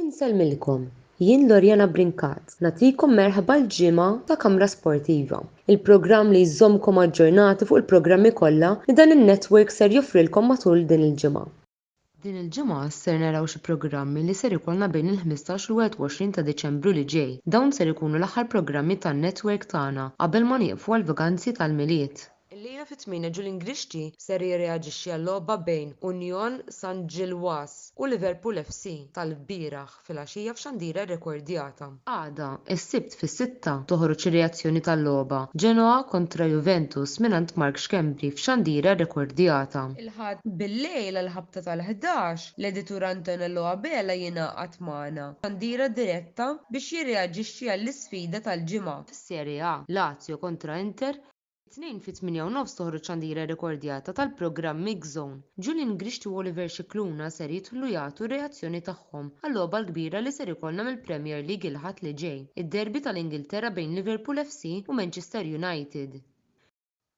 Insellmilkom, jien Loriana Brincat, nagħtikom merħba l-ġimgħa ta' Kamra Sportiva, il-programm li jżommkom aġġornati fuq il-programmi kollha li dan in-network ser joffrilkom matul din il-ġimgħa. Din il-ġimgħa ser naraw xi programmi li ser ikollna bejn il-ħmistax u l-21 ta' Diċembru li ġej. Dawn ser ikunu l-aħħar programmi tan-network tagħna qabel ma nieqfu għall-vaganzi tal-Milied. Illejla fit-tmienja Julian Grixti ser jirreaġixxi għal-logħba bejn Union San Ġilwas u Liverpool FC tal-bieraħ filgħaxija f'xandira rrekordjata. Għada, is-Sibt fis-sitta, toħroġ ir-reazzjoni tal-logħba, Genoa kontra Juventus mingħand Mark Schembri f'xandira rrekordjata. Il-Ħadd bil-lejl għall-ħabta tal-ħdax, l-editur Antonello Abela jingħaqad magħna f'xandira diretta biex jirreaġixxi għall-isfida tal-ġimgħa. Fis-Serie A, Lazio kontra Inter, It-Tnejn fit-tmienja u nofs toħroġ xandira rrekordjata tal-programm Mix Zone. Julian Grixti u Oliver Scicluna ser jidħlu jagħtu r-reazzjoni tagħhom għal-logħba l-kbira li ser ikollna mill-Premier League il-Ħadd li ġej, id-derby tal-Ingilterra bejn Liverpool FC u Manchester United.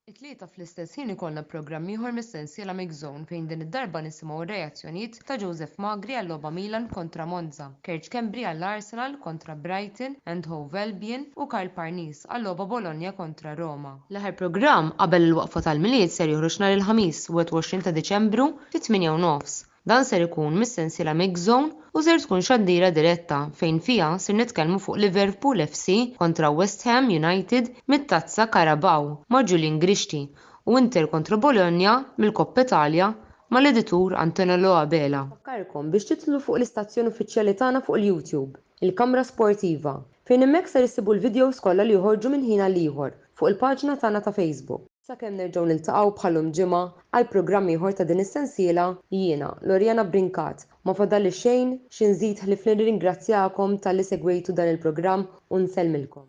It-Tlieta fl-istess ħin ikollna programm ieħor mis-sensiela Mix Zone fejn din id-darba nisimgħu r-reazzjonijiet ta' Joseph Magri għall-logħba Milan kontra Monza, Kerj Schembri għall-Arsenal kontra Brighton and Hove Albion u Karl Parnis għall-logħba Bologna kontra Roma. L-aħħar programm qabel il-waqfa tal-Milied ser joħroġ nhar il-Ħamis, 21 ta' Diċembru, fit-tmienja u nofs. Dan ser ikun mis-sensiela Mix Zone u ser tkun xandira diretta fejn fiha ser nitkellmu fuq Liverpool FC kontra West Ham United mit-Tazza Carabao ma' Julian Grixti u Inter kontra Bologna mill-Coppa Italia Mal-editur Antonello Abela. Infakkarkom biex tidħlu fuq l-istazzjon uffiċjali tagħna fuq il-YouTube, il-Kamra Sportiva, fejn hemmhekk ser issibu l-videos kollha li joħorġu minn ħin għal ieħor fuq il-paġna tagħna ta' Facebook. Sakemm nerġgħu niltaqgħu bħal-lum ġimgħa għal programm ieħor ta' din is-sensiela, jiena, Loriana Brincat, Ma fadalli xejn xi nżid ħlief li nirringrazzjakom talli segwejtu dan il-programm u nsellmilkom.